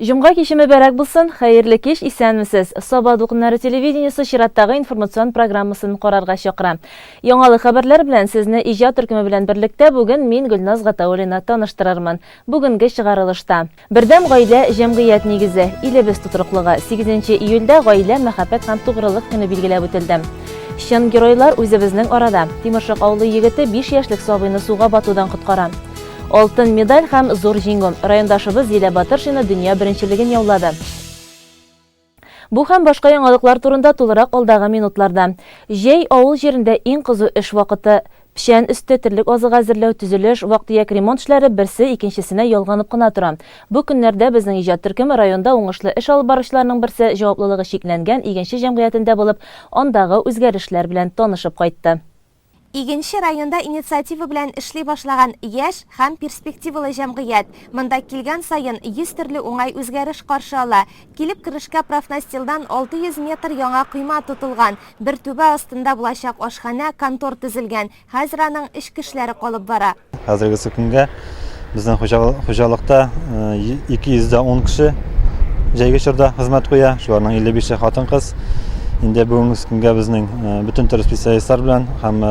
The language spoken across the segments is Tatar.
Җомга киче мөбәрәк булсын, хәерле кич, исәнмесез. Саба дулкыннары телевидениесе чираттагы информацион программасын карарга чакыра. Яңалы хәбәрләр белән сезне иҗат төркеме белән берлектә бүген мин Гөлназ Гатауллина таныштырырмын. Бүгенге чыгарылышта. Бердәм гаилә, җәмгыять нигезе, илебез тотрыклыгы, 8 июльдә Гаилә, мәхәббәт һәм тугрылык көне билгеләп үтелде. Чын геройлар үзебезнең арада. Тимершык авылы егете биш яшьлек сабыйны суга батудан коткара. Алтын медаль һәм зур җиңү. Райондашыбыз Зилә Батыршина дөнья беренчелеген яулады. Бу һәм башка яңалыклар турында тулырак алдагы минутларда. Җәй, авыл җирендә иң кызу эш вакыты. Печән өсте, терлек азыгы әзерләү, төзелеш, вак-төяк ремонт эшләре берсе икенчесенә ялганып кына тора. Бу көннәрдә безнең иҗат төркеме районда уңышлы эш алып баручыларның берсе җаваплылыгы чикләнгән игенче җәмгыятендә булып, андагы үзгәрешләр белән танышып кайтты. Игенче районда инициатива белән эшли башлаган яшь һәм перспективалы җәмгыять. Монда килгән саен 100 төрле уңай үзгәреш каршы ала. Килеп керешкә профнастилдан 600 метр яңа койма тотылган, бер түбә астында булачак ашханә, контор төзелгән, хәзер аның эч кешеләре калып бара. Хәзергесе көнгә безнең хуҗалыкта 210 кеше җәйге чорда хезмәт куя, шуларның 55-е хатын-кыз. Инде бүгенге көнгә безнең бөтен төр специалистлар белән һәм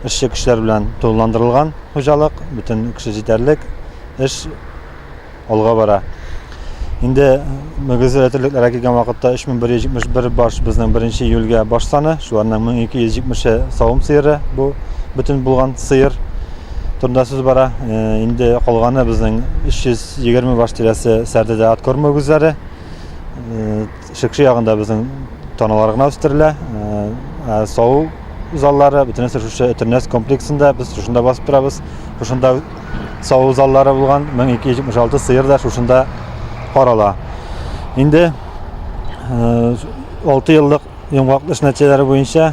эшче кешеләр белән тулыландырылган хуҗалык, бөтен кеше җитәрлек, эш алга бара. Инде мөгезле рәтүлекләргә килгән вакытта 3171 баш безнең 1 июльгә баш саны, шуларның 1270-е савым сыеры, бу бөтен булган сыер турында сүз бара. Э, инде калганы безнең 320 баш тирәсе сәрдәдә откорм мөгезләре. Э, Шыкчы ягында безнең таналар гына үстерелә. Ә сау заллары, бөтенесе шушы Өтернәс комплексында, без шушында басып торабыз. Шушында сау заллары булган 1276 сыер да шушында карала. Инде 6 еллык йомгаклыш нәтиҗәләре буенча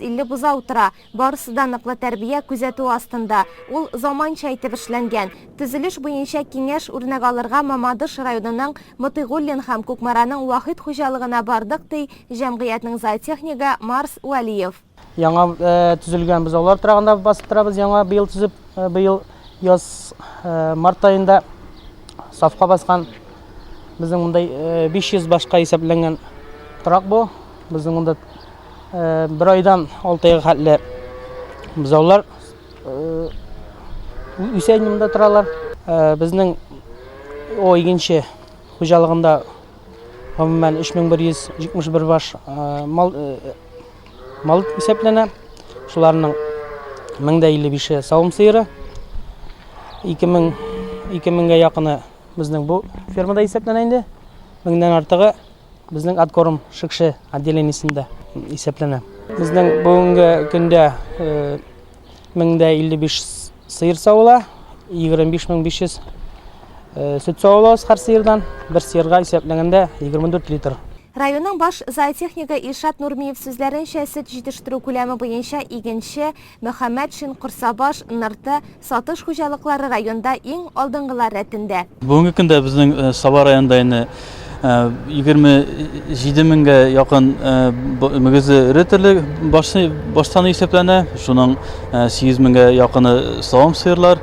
Илле бозау утыра. Барысы да ныклы тәрбия, күзәтү астында. Ул заманча итеп эшләнгән. Төзелеш буенча киңәш үрнәк алырга Мамадыш районының Мотыйгуллин һәм Кукмараның Вахит хуҗалыгына бардык, ди җәмгыятьнең зоотехнигы Марс Вәлиев. Яңа төзелгән бозаулар торагында басып торабыз, яңа быел төзеп, быел яз март аенда сафка баскан. Безнең монда 500 башка исәпләнгән торак бу. Безнең монда Бер айдан алты айга хәтле бозаулар үсә инде монда торалар. Безнең о игенче хуҗалыгында гомумән 3171 баш мал мал исәпләнә. Шуларның 1055-е савым сыеры. 2000 2000 гә якыны безнең бу фермада исәпләнә инде. Меңнән артыгы Безнең откорм Шикше отделениесендә исәпләнә. Безнең бүгенге көндә 1055 сыер савыла, 25500 сөт савылабыз һәр сыердан. Бер сыерга исәпләгәндә 24 литр. Районның баш зоотехнигы Илшат Нурмиев сүзләренчә, сөт җитештерү күләме буенча игенче Мөхәммәтшин, Корсабаш, Нырты, Сатыш хуҗалыклары районда иң алдынгылар рәтендә. Бүгенге көндә безнең Саба районында инде 27 меңгә якын мөгезе эре төрлек баш саны исәпләнә. Шуның 8 меңгә якыны савым сыерлар.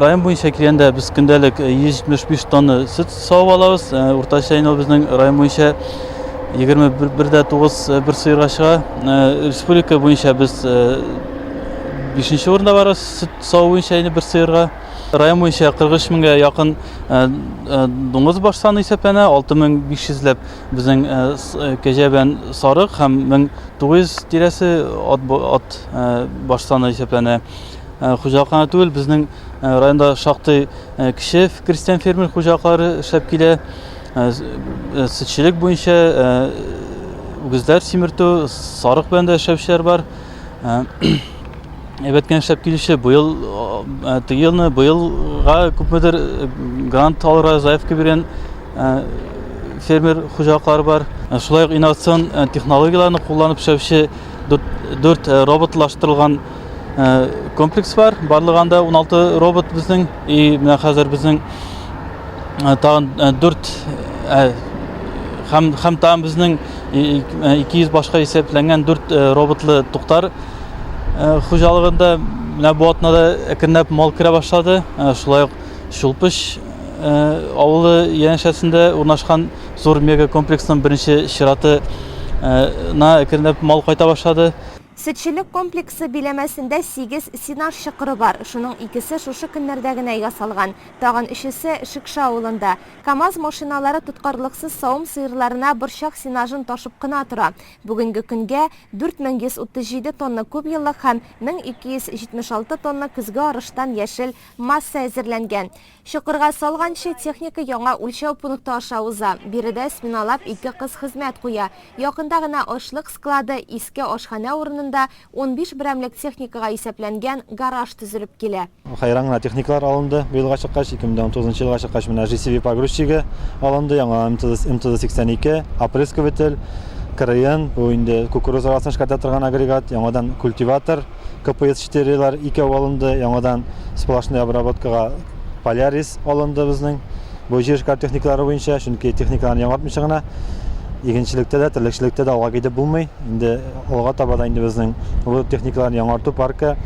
Район буенча килгәндә, без көндәлек 175 тонна сөт Сау балабыз, э, уртача инде безнең район буенча 21 дә 9 э, бер сыйырга чыга. Э, республика буенча без 5 урында барабыз, сөт сау буенча инде бер сыйырга. Район буенча 43 меңгә якын дуңгыз баш саны исәпләнә, 6500 ләп безнең кәҗә белән сарык һәм 1900 тирәсе ат баш саны исәпләнә. Хуҗалыкны түгел, безнең Э, районда шактый э, кече крестьян фермер хуҗалыклары эшләп килә э, сөтчелек буенча үгезләр симертү сарык белән дә эшләүчеләр бар әйбәт кенә эшләп килүче быел теге елны быелга күпмедер грант алырга заявка биргән фермер хуҗалыклары бар шулай ук инновацион технологияләрне кулланып эшләүче дүрт роботлаштырылган Э, комплекс бар барлыгы анда 16 робот безнең и менә хәзер безнең э, тагын 4 э, һәм һәм тагын безнең 200 башка исәпләнгән 4 роботлы туктар хуҗалыгында менә бу атнада әкренләп мал керә башлады шулай ук шулпыш авылы янәшәсендә урнашкан зур мега комплексның беренче чираты на әкренләп мал кайта башлады Сөтчелек комплексы биләмәсендә сигез сенаж чокыры бар, шуның икесе шушы көннәрдә генә ясалган, тагын өчесе, Шекша авылында. КАМАЗ машиналары тоткарлыксыз савым сыерларына борчак сенажын ташып кына тора. Бүгенге көнгә 4137 тонна күпьеллык һәм 1276 тонна көзге арыштан яшел масса әзерләнгән. Чокырга салганчы, техника яңа үлчәү пункты аша уза. Биредә сминалап ике кыз хезмәт куя. Якында гына ашлык склады, иске ашханә урынында унбиш берәмлек техникага исәпләнгән гараж төзелеп килә. Хәйран гына техникалар алынды бу елга чыккач. Ике мең дә унтугызынчы елга чыккач, менә ЖСВ погрузчигы алынды, яңа МТЗ-82, опрыскователь, крн, бу инде кукуруза арасын эшкәртә торган агрегат, яңадан культиватор. КПС 4-лар икәү алынды, яңадан сплошной обработкага Полярис алынды безнең. Бу җир эшкар техникалары буенча, чөнки техникаларны яңартмыйча гына игенчелектә дә, терлекчелектә дә алга китеп булмый. Инде алга таба да инде безнең бу техникаларны яңарту паркы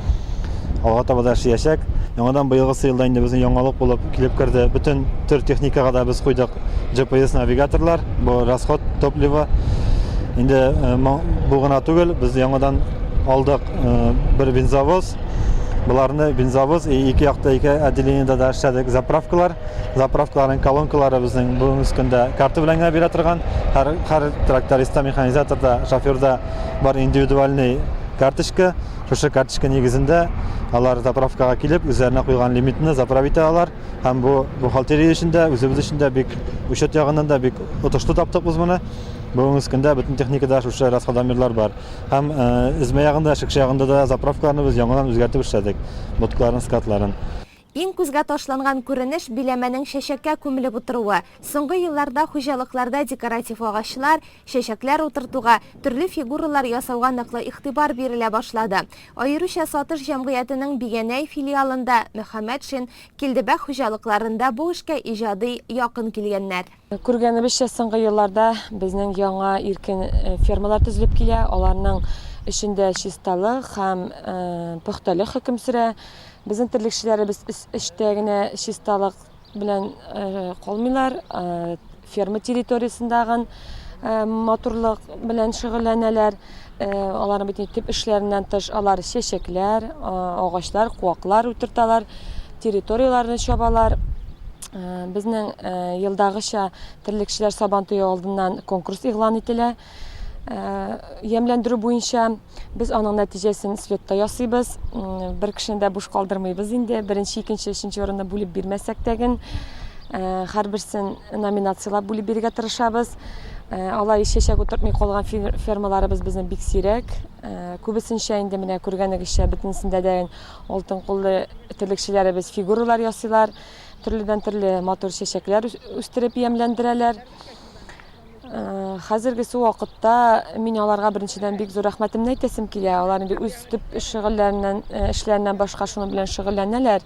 алга таба да эшләячәк. Яңадан быелгысы елда инде безнең яңалык булып килеп керде. Бөтен төр техникага да без куйдык. GPS навигаторлар, бу расход топлива. Инде бу гына түгел, без яңадан алдык бер бензовоз. Боларны бензовоз и ике якта ике отделениедә дә эшләдек. Заправкалар, заправкаларның колонкалары безнең бүгенге көндә карта белән генә бирә торган. Һәр һәр трактористта, механизаторда, шоферда бар индивидуальный карточка. Шушы карточка нигезендә алар заправкага килеп, үзләренә куйган лимитны заправить итә алар. Һәм бу бухгалтерия өчен дә, үзебез өчен дә бик учет ягыннан да бик отышлы таптык без моны. Бүгенге көндә бөтен техникада шушы расходомерлар бар. Һәм эзмә ягында, шикшә ягында да заправкаларны без яңадан үзгәртеп эшләдек. Боткаларын, скатларын. Иң күзгә ташланган күренеш биләмәнең чәчәккә күмелеп утыруы. Соңгы елларда хуҗалыкларда декоратив агачлар, чәчәкләр утыртуга, төрле фигуралар ясауга ныклы игътибар бирелә башлады. Аеруча Сатыш җәмгыятенең Бигәнәй филиалында, Мөхәммәтшин, Килдебәк хуҗалыкларында бу эшкә иҗади якын килгәннәр. Күргәнебезчә, соңгы елларда безнең яңа иркен фермалар төзелеп килә, аларның эшендә чисталык һәм пөхтәлек хөкем сөрә. Безнең терлекчеләребез өс эштә генә чисталык. Белән калмыйлар, ферма территориясендагын матурлык белән шөгыльләнәләр. Аларның бит төп эшләреннән тыш алар чәчәкләр, агачлар, куаклар утырталар, территорияләрне чабалар. Безнең елдагыча терлекчеләр сабантуе алдыннан конкурс игълан ителә. Ямьләндерү буенча без аның нәтиҗәсен слетта ясыйбыз. Бер кешене дә буш калдырмыйбыз инде. Беренче, икенче, өченче урынны бүлеп бирмәсәк тәген, һәрберсен номинацияләп бүлеп бирергә тырышабыз. Алай чәчәк утыртмый калган фермаларыбыз безнең бик сирәк. Күбесенчә инде менә күргәнегезчә бөтенесендә дә алтын куллы терлекчеләребез фигуралар ясыйлар, төрледән-төрле матур чәчәкләр үстереп ямьләндерәләр. Хәзергесе вакытта мин аларга беренчедән бик зур рәхмәтемне әйтәсем килә. Алар инде үз төп шөгыльләреннән, э, эшләреннән башка шуның белән шөгыльләнәләр.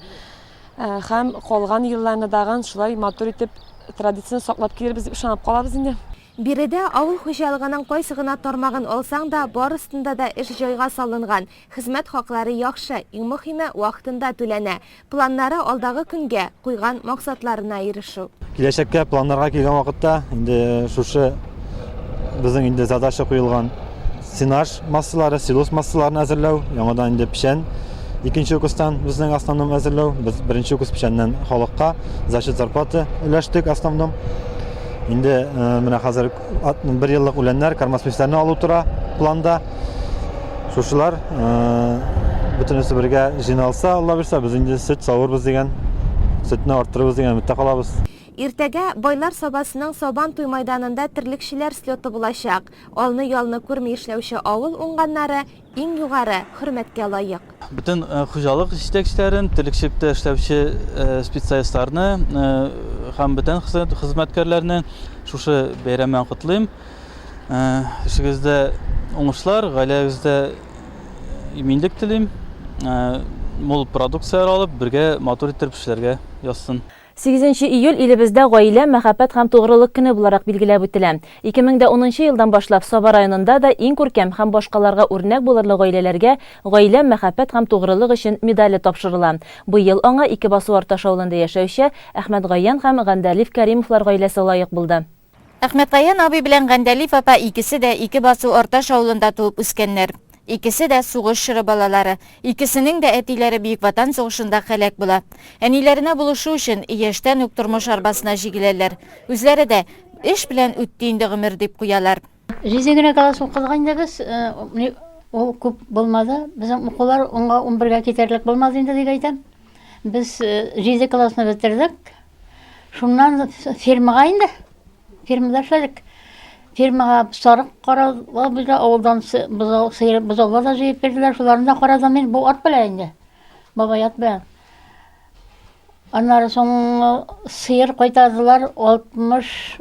Э, һәм калган елларны дагын шулай матур итеп традицияне саклап килербез дип ышанып калабыз инде. Биредә авыл хуҗалыгының кайсы гына тармагын алсаң да, барысында да эш җайга салынган, хезмәт хаклары яхшы, иң мөхиме, вакытында түләнә. Планнары алдагы көнгә, куйган максатларына ирешү. Киләчәккә планнарга килгән вакытта, инде шушы безнең инде задача куелган сенаж массалары, силос массаларын әзерләү, яңадан инде печән икенче укустан безнең основном әзерләү. Без беренче укус печәннән халыкка за счет зарплаты өләштек основном. Инде э, менә хәзер бер еллык үләннәр, кормосмесләрне алу тора планда. Шушылар бөтенесе бергә җыйналса, Алла бирсә, без инде сөт савырбыз дигән, сөтне арттырырбыз дигән өметтә калабыз. Иртәгә Байлар Сабасының Сабан туй майданында терлекчеләр слеты булачак. Алны-ялны күрми эшләүче авыл уңганнары Иң югары хөрмәткә лаек. Бөтен хуҗалык җитәкчеләрен, терлекчелектә эшләүче специалистларны һәм бөтен хезмәткәрләрне шушы бәйрәм белән котлыйм. Эшегездә уңышлар, гаиләгездә иминлек телим. Мул продукцияләр алып, бергә матур иттереп эшләргә язсын. Сигезенче июль илебездә Гаилә, мәхәббәт һәм тугрылык көне буларак билгеләп үтелә. Ике мең дә унынчы елдан башлап Саба районында да иң күркәм һәм башкаларга үрнәк булырлык гаиләләргә Гаилә, мәхәббәт һәм тугрылык өчен медале тапшырыла. Быел аңа Ике басу Арташ авылында яшәүче Әхмәтгаян һәм Гандәлиф Кәримовлар гаиләсе лаек булды. Әхмәткаян абый белән Гәндәлиф апа икесе дә Ике басу Арташ авылында туып үскәннәр. Икесе дә, сугыш чоры балалары. Икесенең дә әтиләре Бөек Ватан сугышында һәлак була. Әниләренә булышу өчен, яшьтән үк тормыш арбасына җигеләләр. Үзләре дә, Эш белән үтте инде гомер, дип куялар. Җиде генә класс укыдык инде без. Ул күп булмады. Безнең укулар унга унбергә китәрлек булмады инде дип әйтәм. Без җиде классны бетердек. Шуннан фермага инде. Фермада эшләдек. Фермага сарык каравы бирде, авылдан бозау, сыер, бозаулар да җыеп бирделәр. Шуларны да карадым мин бу ат белән инде. Бабай ат белән. Аннары соң сыер кайтардылар 60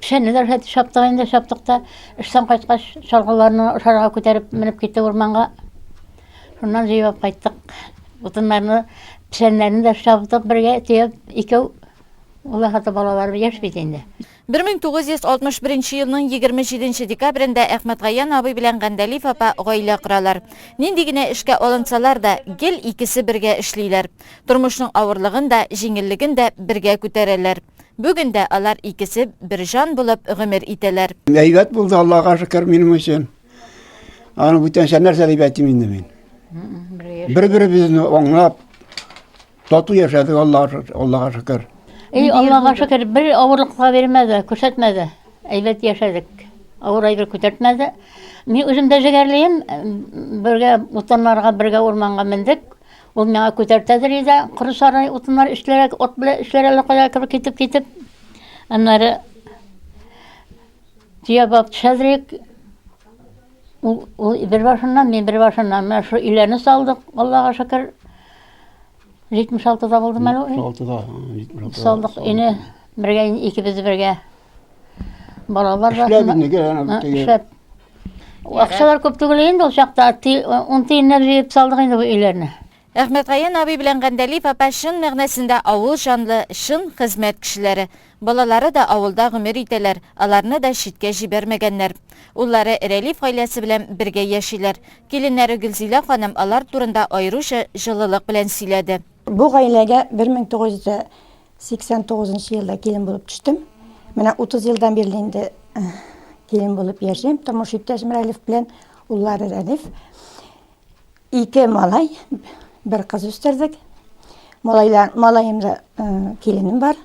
Пшәниләр хәт чаптык инде, чаптык та. Эштән кайткач, чалгыларны ошарга күтәреп менеп китте урманга. Шуннан җыеп кайттык. Утыннарны, пшәннәрне дә чаптык бергә, төяп, икәү. Улы хаты балалар яшь бит инде. 1961 елның 27 декабрендә Әхмәтгаян абый белән Гәндәлиф апа гаилә коралар. Нинди генә эшкә алынсалар да, гел икесе бергә эшлиләр. Тормышның авырлыгын да, җиңеллеген дә бергә күтәрәләр. Бүген дә алар икесе бер җан булып гомер итәләр. Әйбәт булды, Аллага шөкер, минем өчен. Аны бүтәнчә нәрсә дип әйтим инде мин. Бер-беребезне аңлап, тату яшәдек, Аллага шөкер. Эй, Аллага шөкер, бер авырлык та бирмәде, күрсәтмәде. Әйбәт яшәдек. Авыр әйбер күтәртмәде. Мин үзем дә җегәрлеем, бергә утыннарга, бергә урманга мендек. Ул миңа күтәртәдер иде, коры сарай утыннар эшләрәк, от белән эшләр әле кая кебек китеп китеп. Аннары төя баб төшәдерик. Ул, ул бер башыннан, мин бер башыннан. Менә шул өйләрне салдык, Аллага шөкер. 76-да булдым әле. 76-да. Салдык өйне бергә, икебез бергә. Балалар Эшләп расында- инде, ана Ә, бит, эшләп. Акчалар күп түгел инде ул чакта. ти- Ун тиеннәр җыеп салдык инде бу өйләрне. Әхмәтгаен абый белән Гәндәлиев апа чын мәгънәсендә авыл җанлы, чын хезмәт кешеләре. Балалары да авылда гомер итәләр, аларны да читкә җибәрмәгәннәр. Уллары Рәлиф гаиләсе белән бергә яшиләр. Киленнәре Гөлзилә ханым алар турында аеруча җылылык белән сөйләде. Бу гаиләгә 1900 89 нчы елда килен булып төштем. Менә 30 елдан бирле инде килен булып яшим. Тормыш иптәшем Рәлиф белән уллары Рәлиф. Ике малай, бер кыз үстердек. Малайлар, малаем да киленем бар.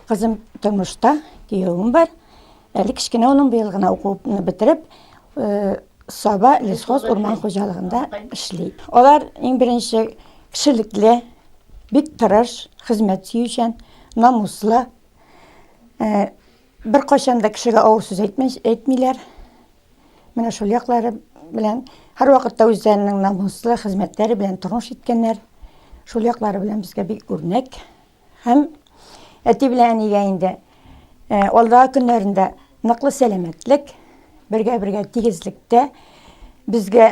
Кызым тормышта, киявем бар. Әле кечкенә улым быел гына укуны бетереп, Саба лесхоз урман хуҗалыгында эшли. Алар иң беренче кешелекле, бик тырыш, хезмәт сөючән, намуслы. Бер кайчан да кешегә авыр сүз әйтмиләр. Менә шул яклары белән һәрвакытта үзләренең намуслы хезмәтләре белән тормыш иткәннәр. Шул яклары белән безгә бик үрнәк. Һәм әти белән әнигә инде алдагы көннәрендә ныклы сәламәтлек, бергә-бергә тигезлектә безгә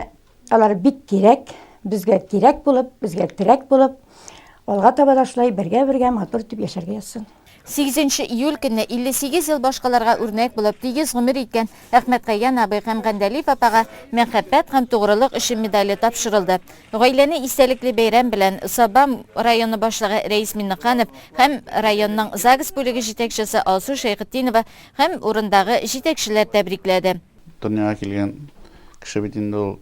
алар бик кирәк, безгә кирәк булып, безгә терәк булып, алга таба да шулай бергә-бергә матур итеп яшәргә язсын. 8 нче июль көнне 58 ел башкаларга үрнәк булып, тигез гомер иткән Әхмәткәйгән абый һәм Гәндәлиев апага Мәхәббәт һәм тугрылык өчен медале тапшырылды. Гаиләне истәлекле бәйрәм белән Саба районы башлыгы Рәис Миннеханов һәм районның ЗАГС бүлеге җитәкчесе Алсу Шәйхетдинова һәм урындагы җитәкчеләр тәбрикләде. Дөньяга килгән кеше бит инде ул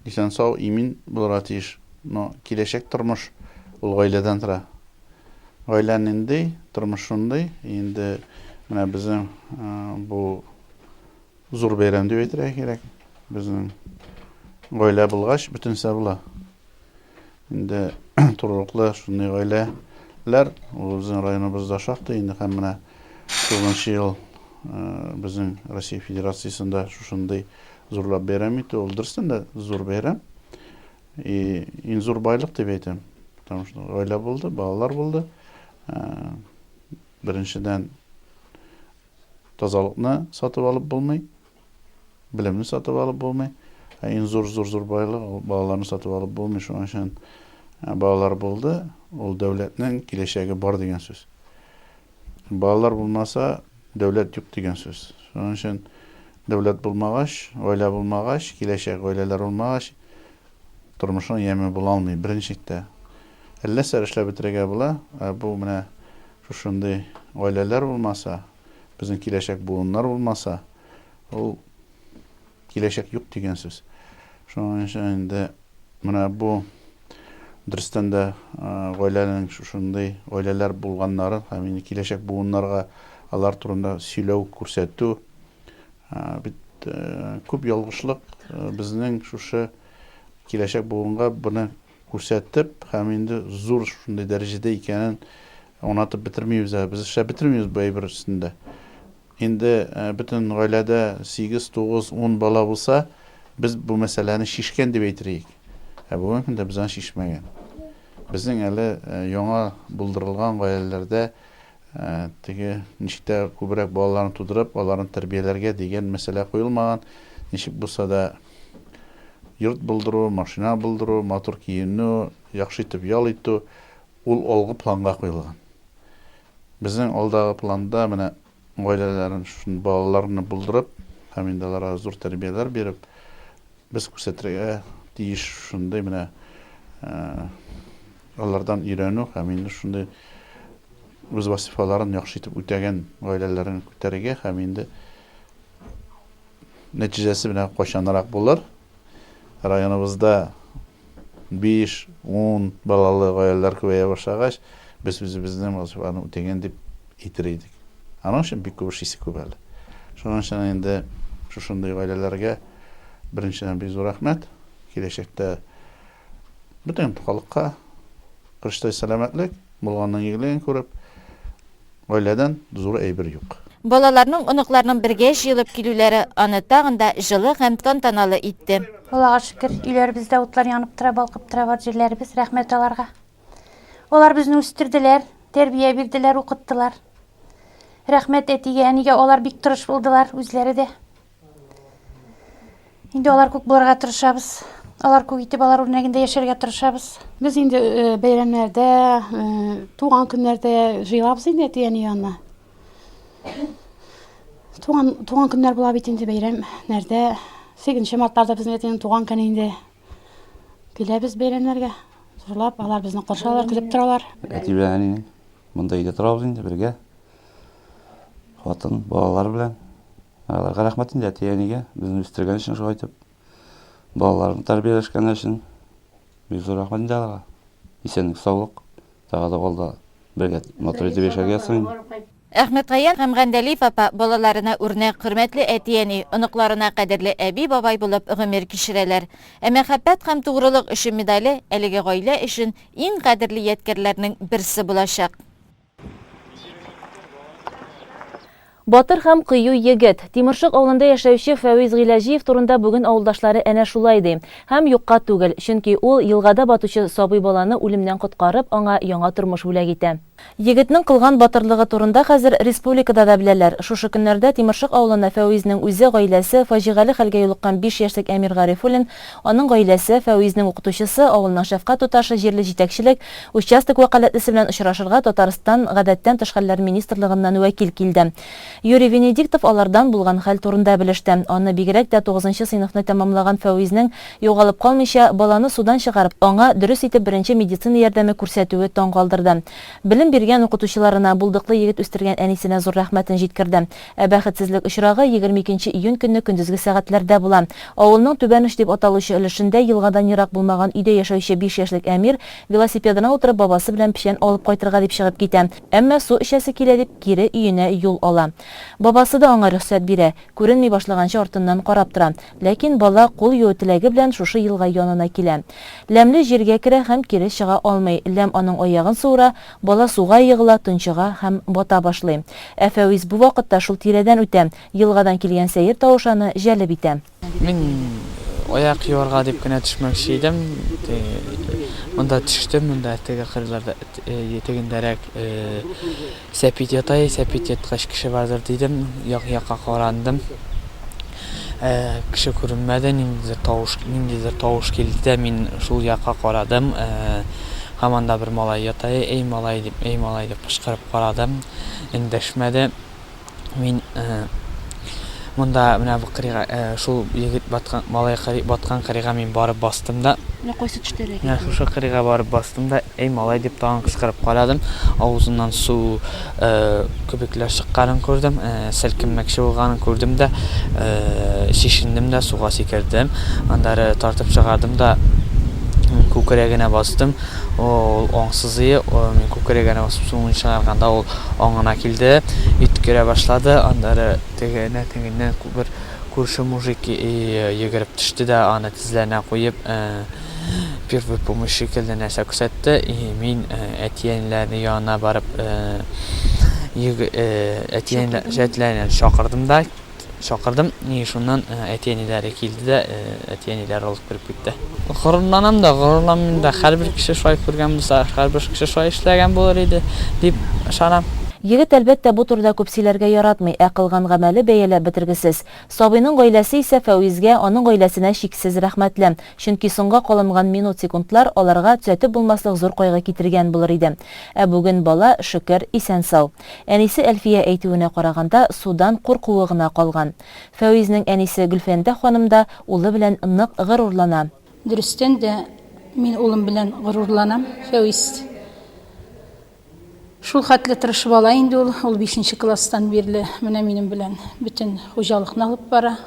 исән-сау, имин булырга тиеш. Но киләчәк тормыш ул гаиләдән тора. Гаилә нинди, тормыш шундый. Инде менә безнең бу Зур бәйрәм дип әйтергә кирәк. Безнең гаилә булгач, бөтенсә була. Инде турылыклы шундый гаиләләр безнең районыбызда шактый инде һәм менә тугызынчы ел э, безнең Россия Федерациясендә шушындый зурлап бәйрәм итү ул дөрестән дә зур бәйрәм. И иң зур байлык дип әйтәм. Потому что гаилә булды, балалар булды. Э, Беренчедән, тазалыкны сатып алып булмый, белемне сатып алып булмый. Ә иң зур зур зур байлык ул балаларны сатып алып булмый. Шуның өчен ә, балалар булды, ул дәүләтнең киләчәге бар дигән сүз. Балалар булмаса, дәүләт юк дигән сүз. Шуның өчен дәүләт булмагач, гаилә булмагач, киләчәк гаиләләр булмагач, тормышның яме була алмый, беренче чиктә. Әллә нәрсәләр эшләп бетерергә була. Ә бу менә шушындый гаиләләр булмаса, безнең киләчәк буыннар булмаса, ул киләчәк юк дигән сүз. Шуның өчен инде менә бу дөрестән дә гаиләнең шушындый гаиләләр булганнары һәм инде киләчәк буыннарга алар турында сөйләү, күрсәтү бит күп ялгышлык безнең шушы киләчәк буынга буны күрсәтеп һәм инде зур шундый дәрәҗәдә икәнен аңлатып бетермибез әле. Без эшләп бетермибез бу әйбер өстендә. Инде бөтен гаиләдә сигез, тугыз, ун бала булса, без бу мәсьәләне чишкән дип әйтерлек. Ә бүгенге көндә без аны чишмәгән. Безнең әле яңа булдырылган гаиләләрдә Теге, ничек тә күбрәк балаларны тудырып, аларны тәрбияләргә дигән мәсьәлә куелмаган. Ничек булса да, йорт булдыру, машина булдыру, матур киенү, яхшы итеп ял итү, ул алгы планга куелган. Безнең алдагы планда менә гаиләләрен, шушы балаларны булдырып һәм инде аларга зур тәрбияләр биреп, Без күрсәтергә тиеш шундый менә алардан өйрәнү һәм инде шундый үз вазифаларын яхшы итеп үтәгән гаиләләрен күтәрергә һәм инде нәтиҗәсе менә кайчанрак булыр районыбызда Биш, ун балалы гаиләләр күбәя башлагач, без үзебезнең вазифаны үтәгән дип әйтер идек. Аның өчен бик күп эш исе күп әле. Шуның өчен инде шушындый гаиләләргә беренчедән бик зур рәхмәт. Киләчәктә бөтен халыкка кырыштай сәламәтлек, булганның игелеген күреп, Гаиләдән зур әйбер юк. Балаларның, оныкларның бергә җыелып килүләре аны тагын да җылы һәм тантаналы итте. Аллага шөкер, өйләребездә утлар янып тора, балкып тора бар җирләребез, рәхмәт аларга. Алар безне үстерделәр, тәрбия бирделәр, укыттылар. Рәхмәт әтигә, әнигә, алар бик тырыш булдылар, үзләре дә. Инде алар күк булырга тырышабыз. Алар күк итеп, алар үрнәгендә яшәргә тырышабыз. Без инде э, бәйрәмнәрдә, э, туган көннәрдә җыелабыз инде әти-әни янына. Туган, туган көннәр була бит инде бәйрәмнәрдә. 8 мартларда безнең әтинең туган көне инде. Киләбез бәйрәмнәргә. Зурлап, алар безне каршы алалар, көтеп торалар. Әти белән әнине. Монда өйдә торабыз инде бергә. Хатын, балалар белән. Аларга рәхмәт инде әти-әнигә, безне үстергән өчен шулай итеп. Балаларны тәрбияләшкән өчен. Бик зур рәхмәт инде аларга. Исәнлек, саулык. Тагы да алда бергә матур итеп яшәргә ясыйм. Әхмәтгаян һәм Гәндәлиев апа балаларына үрнәк, хөрмәтле әти-әни, оныкларына кадерле әби-бабай булып гомер кичерәләр. Ә Мәхәббәт һәм тугрылык өчен медале әлеге гаилә өчен иң кадерле ядкярләрнең берсе булачак. Батыр һәм кыю егет, Тимершык авылында яшәүче Фәвиз Гыйләҗиев турында бүген авылдашлары әнә шулай ди. Һәм юкка түгел, чөнки ул елгада батучы сабый баланы үлемнән коткарып, аңа яңа тормыш бүләк итә. Егетнең кылган батырлыгы турында хәзер республикада да беләләр. Шушы көннәрдә Тимершык авылына Фәвизнең үзе, гаиләсе, фаҗигале хәлгә юлыккан биш яшьлек Әмир Гарифуллин, Аның гаиләсе, Фәвизнең укытучысы, авылның шәфкать туташы җирле җитәкчелек, участок вәкаләтлесе белән очрашырга Татарстан Гадәттән тыш хәлләр министрлыгыннан вәкил килде. Юрий Венедиктов алардан булган хәл турында белеште. Аны бигрәк тә тугызынчы сыйныфны тәмамлаган Фәвизнең югалып калмыйча, баланы судан чыгарып, аңа дөрес итеп беренче медицина ярдәме күрсәтүе таң калдырды. Белем биргән укытучыларына, булдыклы егет үстергән әнисенә зур рәхмәтен җиткерде. Ә бәхетсезлек очрагы егерме икенче июнь көнне көндезге сәгатьләрдә була. Авылның Түбән Уч дип аталучы өлешендә елгадан ерак булмаган өйдә яшәүче биш яшьлек Әмир, велосипедына утырып, бабасы белән печән алып кайтырга дип чыгып китә, әмма су эчәсе килә дип, кире өенә юл ала. Бабасы да аңа рөхсәт бирә, күренми башлаганчы артыннан карап тора. Ләкин бала кул юу теләге белән шушы елга янына килә. Ләмле җиргә керә һәм кире чыга алмый. Ләм аның аягын суыра, бала суга егыла, тончыга һәм бата башлый. Ә Фәвис бу вакытта шул тирәдән үтә, елгадан килгән сәер тавыш аны җәлеп итә. Мин аяк юарга дип кенә төшмәкче идем, монда төштем, монда теге кырларда, тегендәрәк, Сәпит ята, әй, сәпит яткач кеше бардыр, дидем, як-якка карандым. Ә, кеше күренмәде, ниндидер тавыш, ниндидер тавыш килде дә, мин шул якка карадым. Ә, һаман да бер малай ята, әй, малай, дип, әй, малай, дип кычкырып карадым, эндәшмәде. Мин монда менә бу кырыйга шул егет баткан малай кырый баткан кырыйга мин барып бастым да. Менә кайсы төштәләр икән? Шушы кырыйга барып бастым да, "Эй, малай" дип тагын кычкырып карадым. Авызыннан су күбекләр чыкканын күрдем, селкенмәкче булганын күрдем дә, чишендем дә суга сикердем. Аннары тартып чыгардым да күкрәгенә бастым. Ул аң сызые күкрәге янә басып суын чыгарганда ул аңына килде, өткерә башлады, аннары теге нә тегеннән бер күрше мужик йөгереп төште дә аны тезләренә куеп первый помощь шикелле нәрсә күрсәтте, мин әти-әниләрнең янына барып әти-әниләрне чакырдым да. Чакырдым, и шуннан әти-әниләре килде дә, әти-әниләре алып кереп китте. Горурланам да, горурланмыйм да, һәрбер кеше шулай күргән булса, һәрбер кеше шулай эшләгән булыр иде, дип ышанам. Егет, әлбәттә, бу турыда күп сөйләргә яратмый, ә кылган гамәле бәяләп бетергесез. Сабыйның гаиләсе исә Фәвизгә, аның гаиләсенә чиксез рәхмәтле, чөнки соңга калынган минут-секундлар аларга төзәтеп булмаслык зур кайгы китергән булыр иде. Ә бүген бала, шөкер, исән-сау. Әнисе Әлфия әйтүенә караганда, судан куркуы гына калган. Фәвизнең әнисе Гөлфәндә ханым да улы белән нык горурлана. Дөрестән дә, мин улым белән горурланам. Фәвиз шул хәтле тырыш бала инде ул. Ул бишенче класстан бирле менә минем белән бөтен хуҗалыкны алып бара.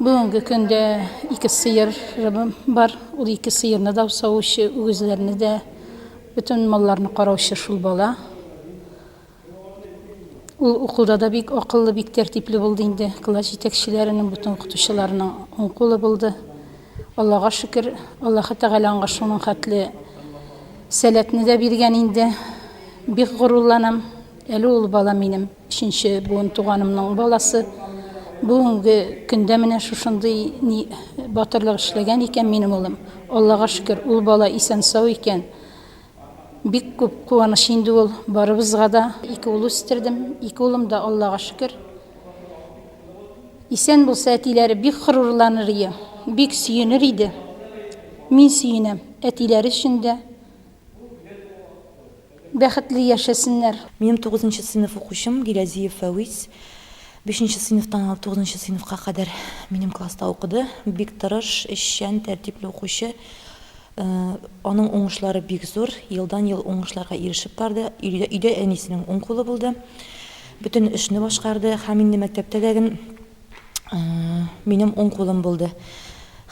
Бүгенге көндә ике сыер бар. Ул ике сыерны да савучы, үгезләрне дә, бөтен малларны караучы шул бала. Ул укуда да бик акыллы, бик тәртипле булды инде. Класс җитәкчеләренең, бөтен укытучыларның уң кулы булды. Аллага шөкер, Аллаһы Тәгалә аңа шуның хәтле сәләтне дә биргән инде. Бик горурланам. Әле ул бала минем. Өченче буын туганымның баласы. Бүгенге көндә менә шушындый ни батырлык эшләгән икән минем улым. Аллага шөкер, ул бала исән-сау икән. Бик күп куаныч инде ул барыбызга да. Ике ул үстердем, ике улым да, Аллага шөкер. Исән булса, әтиләре бик горурланыр ие, бик сөенер иде. Мин сөенәм, әтиләре өчен дә. Бәхетле яшәсеннәр. Минем тугызынчы сыйныф укучым Гилязиев Фәвис. Бишенче сыйныфтан алып тугызынчы сыйныфка кадәр минем класста укыды. Бик тырыш, эшчән, тәртипле укучы. Аның уңышлары бик зур. Елдан-ел уңышларга ирешеп барды. Өйдә әнисенең уң кулы булды. Бөтен эшне башкарды. Һәм инде мәктәптә дә Минем уң кулым булды.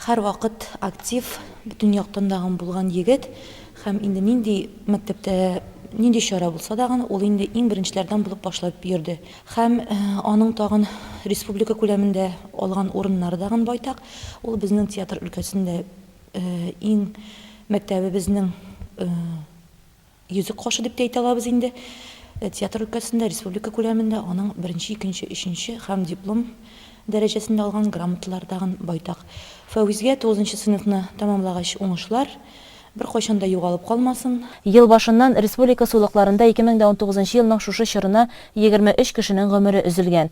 Һәрвакыт актив, бөтен яктан да гын булган егет һәм инде нинди мәктәптә нинди чара булса да гын, ул инде иң беренчеләрдән булып башлап йөрде. Һәм аның тагын республика күләмендә алган урыннары да гын байтак. Ул безнең театр өлкәсендә иң мәктәбебезнең Йөзек кашы дип тә әйтә алабыз инде. Театр өлкәсендә, республика күләмендә аның беренче, икенче, өченче һәм диплом дәрәҗәсендә алган грамоталары тагын байтак. Фәвизгә тугызынчы сыйныфны тәмамлагач уңышлар, беркайчан да югалып калмасын. Ел башыннан республика сулыкларында 2019 елның шушы чорына егерме өч кешенең гомере өзелгән.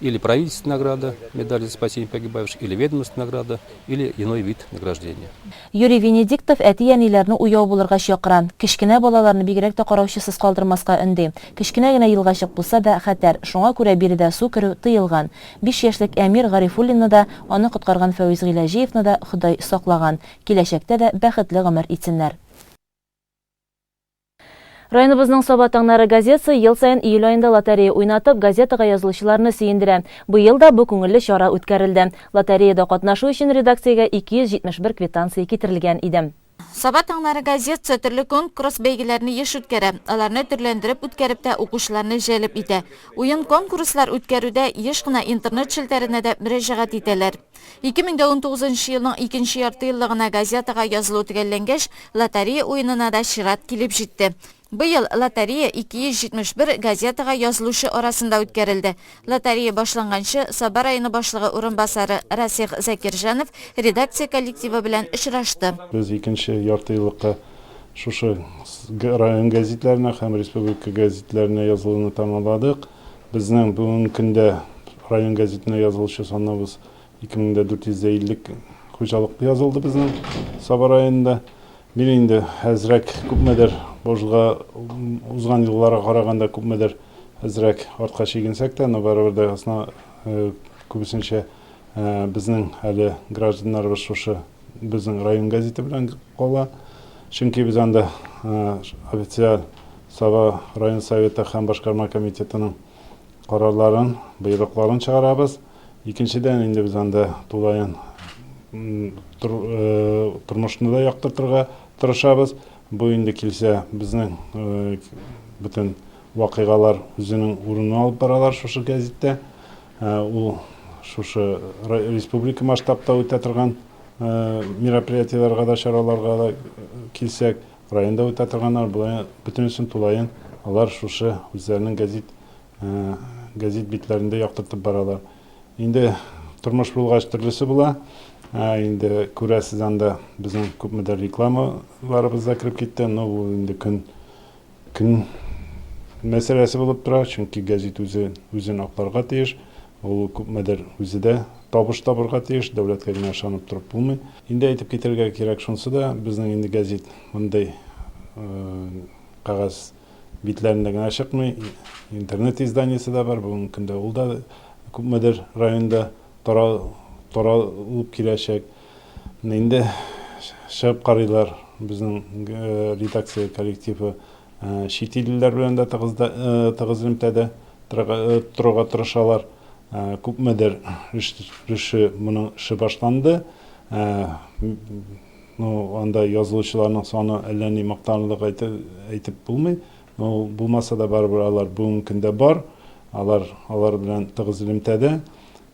или правительственная награда, медаль за спасение погибавших, или ведомственная награда, или иной вид награждения. Юрий Венедиктов әти-әниләрне уяу булырга чакыра, кечкенә балаларны бигрәк тә караучысыз калдырмаска өнди. Кечкенә генә елгачык булса да, хәтәр, шуңа күрә биредә су керү тыелган. Биш яшьлек Әмир Гарифуллинны да, аны коткарган Фәвиз Гыйләҗиевны да Ходай саклаган. Киләчәктә дә бәхетле гомер итсеннәр. Районыбызның Саба таңнары газетасы ел саен июль аенда лотерея уйнатып, газетага язылучыларны сөендерә. Быел да бу күңелле чара үткәрелде. Лотереяда катнашу өчен редакциягә 271 квитанция китерелгән иде. Саба таңнары газетасы төрле конкурс-бәйгеләрне еш үткәрә, аларны төрләндереп үткәреп тә укучыларны җәлеп итә. Уен-конкурслар үткәрүдә еш кына интернет челтәренә дә мөрәҗәгать итәләр. 2019 нчы елның икенче ярты елда гына газетага язылу төгәлләнгәч, лотерея уенына да чират килеп җитте. Быел лотерея 271 газетага язылучы арасында үткәрелде. Лотерея башланганчы Саба районы башлыгы урынбасары Расих Закирҗанов редакция коллективы белән очрашты. Без икенче яртыеллыкка шушы район гәзитләренә һәм республика гәзитләренә язылуны тәмамладык. Безнең бүгенге көндә район гәзитенә язылучы саныбыз 2450 хуҗалык язылды безнең Саба районында. Бир инде әзрәк, күпмедер божга узган елларга караганда күпмедер әзрәк артка чигенсәк тә, но барыбер дә асна күбесенчә безнең әле гражданнарыбыз шушы безнең район газеты белән кала. Чөнки без анда официаль Саба район советы һәм башкарма комитетының карарларын, боерыкларын чыгарабыз. Икенчедән инде без анда тулаен тормышны да яктыртырга тырышабыз. Бу инде килсә безнең бөтен Вакыйгалар үзенең урынын алып баралар шушы гәзиттә. Ул шушы республика масштабта үтә торган мероприятиеләргә дә, чараларга да килсәк, районда үтә торганнар, болай бөтенесен тулаен алар шушы үзләренең гәзит гәзит битләрендә яктыртып баралар. Инде тормыш булгач төрлесе була. Инде күрәсез анда безнең күпмедер рекламаларыбыз да кереп китте. Ну, ул инде көн Көн мәсьәләсе булып тора, чөнки гәзит үзе үзен акларга тиеш. Ул күпмедер үзе дә табыш табырга тиеш, дәүләткә генә ышанып торып булмый. Инде әйтеп китәргә кирәк шунсы да, безнең инде гәзит мондый кәгазь битләрендә генә чыкмый, интернет изданиесе дә бар, бүгенге көндә ул да күпмедер районда таралып киләчәк. Менә инде чыгып карыйлар безнең редакция коллективы чит иллеләр белән дә тыгыз элемтәдә торырга тырышалар. Күпмедер реше моның эше башланды. Ну, анда язылучыларның саны әллә ни мактанырлык әйтеп булмый. Ну, булмаса да барыбер алар бүгенге көндә бар. Алар алар белән тыгыз элемтәдә.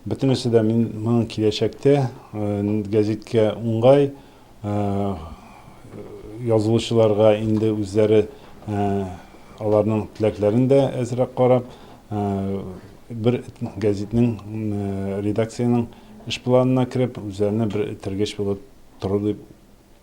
Бөтенесе дә мин моның киләчәктә гәзиткә уңай язылучыларга инде үзләре аларның теләкләрен дә әзрәк карап, бер гәзитнең редакциянең эш планына кереп, үзләренә бер этәргеч булып торыр дип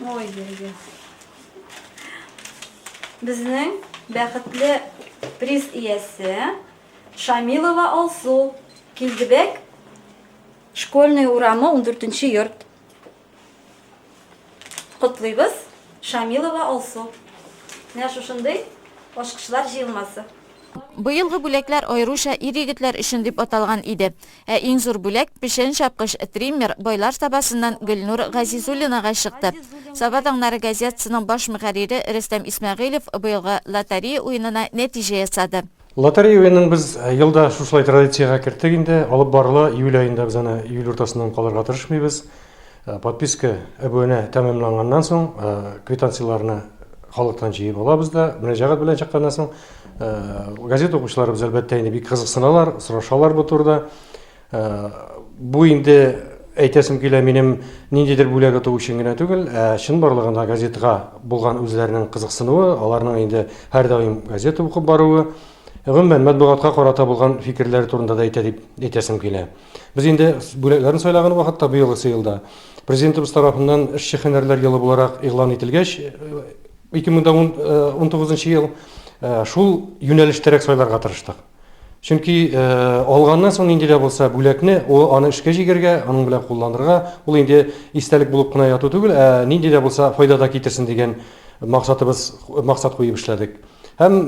Ой, берге. Безнең бәхетле приз иясе Шамилова Алсу. Килдебек, школьный урамы 14 йорт. Котлыйбыз, Шамилова Алсу. Менә шушындый ашкышлар җыелмасы. Быелгы бүләкләр аеруча ир-егетләр өчен дип аталган иде. Ә иң зур бүләк, печән чапкыч, триммер, Байлар Сабасыннан Гөлнур Газизуллинага чыкты. Саба таңнары газетасының баш мөхәррире Рөстәм Исмәгыйлев быелгы лотерея уенына нәтиҗә ясады. Лотерея уенын без елда шушылай традициягә керттек инде. Алып барыла июль аенда, без аны июль уртасыннан калырга тырышмыйбыз. Подписка, әбүәнә тәмамланганнан соң, квитанцияләрне халыктан җыеп алабыз да, мөрәҗәгать белән чыкканнан соң, газета укучыларыбыз, әлбәттә, инде бик кызыксыналар, сорашалар бу турыда. Бу инде, әйтәсем килә, минем ниндидер бүләк оту өчен генә түгел, ә чынбарлыгында газетага булган үзләренең кызыксынуы, аларның инде һәрдаим газета укып баруы, гомумән, матбугатка карата булган фикерләре турында да әйтә дип әйтәсем килә. Без инде бүләкләрне сайлаган вакытта быелгысы елда Президентыбыз тарафыннан эшче һөнәрләр елы буларак игълан ителгәч, 2019 ел шул юнәлештәрәк сайларга тырыштык. Чөнки алганнан соң нинди дә булса бүләкне, ул аны эшкә җигәргә, аның белән кулланырга, ул инде истәлек булып кына яту түгел, ә нинди дә булса файда да китерсен дигән максатыбыз, максат куеп эшләдек. Һәм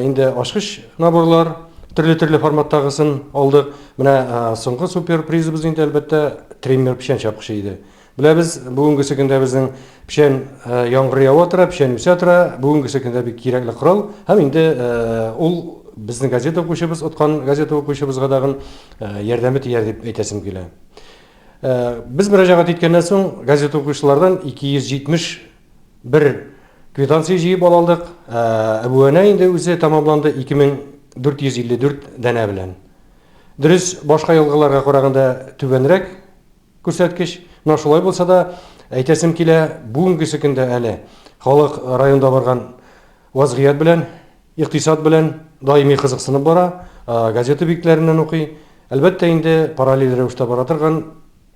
инде ачкыч наборлар төрле-төрле форматтагысын алдык. Менә соңгы супер призыбыз инде әлбәттә триммер печән чапкычы иде. Беләбез, бүгенгесе көндә безнең печән яңгыр ява тора, печән үсә тора, бүгенгесе көндә бик кирәкле корал. Һәм инде ул безнең газета укучыбыз, откан газета укучыбызга дагын ярдәме тияр дип әйтәсем килә. Без мөрәҗәгать иткәннән соң газета укучылардан 270 Бер квитанция җыеп ала алдык. Әбүәнә инде үзе тәмамланды 2454 данә белән. Дөрес, башка елгаларга караганда түбәнрәк күрсәткеч. Менә шулай булса да, әйтәсем килә, бүгенгесе көндә әле халык районда барган вазгыять белән, икътисад белән даими кызыксынып бара, газета битләреннән укый. Әлбәттә инде, параллель рәвештә бара торган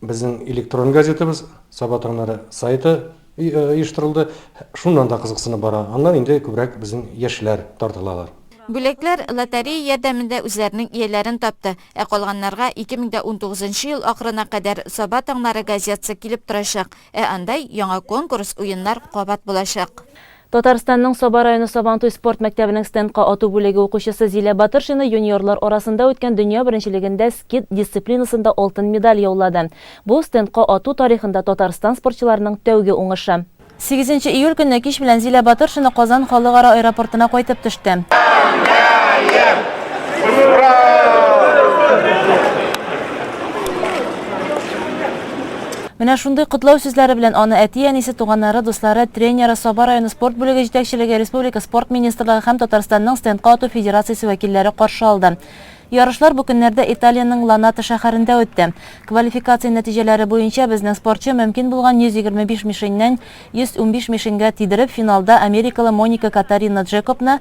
Безнең электрон газетабыз Саба таңнары сайты оештырылды. Шуннан да кызыксынып бара. Аннан инде күбрәк безнең яшьләр тартылалар. Бүләкләр лотерея ярдәмендә үзләренең ияләрен тапты. Ә калганнарга 2019 ел ахырына кадәр Саба таңнары газетасы килеп торачак. Ә анда яңа конкурс, уеннар кабат булачак. Татарстанның Саба районы Сабантуй спорт мәктәбенең стендка ату бүлеге укучысы Зилә Батыршина юниорлар арасында үткән дөнья беренчелегендә скид дисциплинасында алтын медаль яулады. Бу, стендка ату тарихында Татарстан спортчыларының тәүге уңышы. Сигезенче июль көнне кич белән Зилә Батыршина Казан халыкара аэропортына кайтып төште. Менә шундый котлау сүзләре белән аны әти-әнисе, туганнары, дуслары, тренеры, Саба районы спорт бүлеге җитәкчелеге, республика Спорт министрлыгы һәм Татарстанның стендка ату федерациясе вәкилләре каршы алды. Ярышлар бу көннәрдә Италиянең Ланата шәһәрендә үтте. Квалификация нәтиҗәләре буенча безнең спортчы мөмкин булган 125 мишеньнән 115 мишеньгә тидереп, финалда америкалы Моника Катарина Джекобны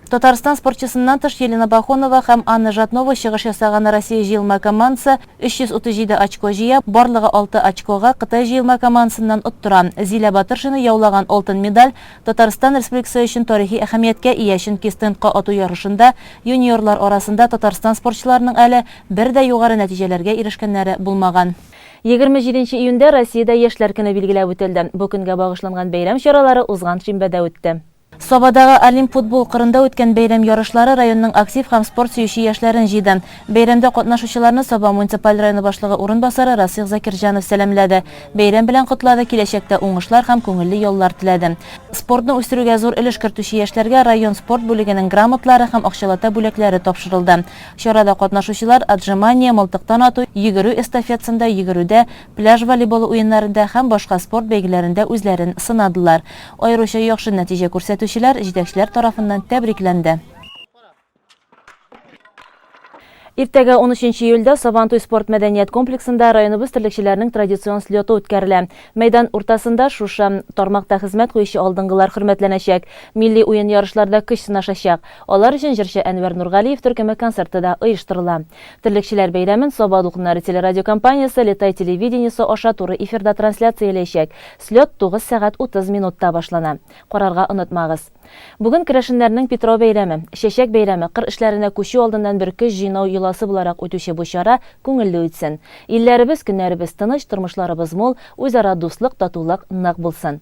Татарстан спортчысыннан тыш Елена Пахонова һәм Анна Жатнова чыгыш ясаган Россия җыелма командасы 337 очко җыя, барлыгы алты очкога Кытай җыелма командасыннан оттыра. Зилә Батыршина яулаган алтын медаль Татарстан Республикасы өчен тарихи әһәмияткә ия, чөнки стендка ату ярышында юниорлар арасында Татарстан спортчыларының әле бер дә югары нәтиҗәләргә ирешкәннәре булмаган. Егерме җиденче июньдә Россиядә Яшьләр көне билгеләп үтелде. Бу көнгә багышланган бәйрәм чаралары узган шимбәдә үтте. Сабадагы Олимп футбол кырында үткән бәйрәм ярышлары районның актив һәм спорт сөюче яшьләрен җыйды. Бәйрәмдә катнашучыларны Саба муниципаль районы башлыгы урынбасары Расих Закирҗанов сәламләде, бәйрәм белән котлады, киләчәктә уңышлар һәм күңелле яллар теләде. Спортны үстерүгә зур өлеш кертүче яшьләргә район спорт бүлегенең грамотлары һәм акчалата бүләкләре тапшырылды. Чарада катнашучылар отжимание, мылтыктан ату, йөгерү эстафетсында йөгерүдә, пляж волейболы уеннарында һәм башка спорт бәйгеләрендә үзләрен сынадылар. Аеруча яхшы нәтиҗә күрсәтүчеләр җитәкчеләр тарафыннан тәбрикләнде. Иртәгә, унөченче июльдә, Сабантуй спорт-мәдәният комплексында районыбыз терлекчеләренең традицион слеты үткәрелә. Мәйдан уртасында шушы тармакта хезмәт куючы алдынгылар хөрмәтләнәчәк, милли уен-ярышларда көч сынашачак. Алар өчен җырчы Әнвәр Нургалиев төркеме концерты да оештырыла. Терлекчеләр бәйрәмен Саба дулкыннары телерадиокомпаниясе Летай телевидениесе аша туры эфирда трансляцияләячәк. Слет тугыз сәгать утыз минутта башлана. Карарга онытмагыз. Бүген керәшеннәрнең Питрау бәйрәме. Чәчәк бәйрәме, кыр эшләренә күчү алдыннан бер көч җыйнау йоласы буларак үтүче бу чара күңелле үтсен. Илләребез, көннәребез тыныч, тормышларыбыз мул, үзара дуслык, татулык нык булсын.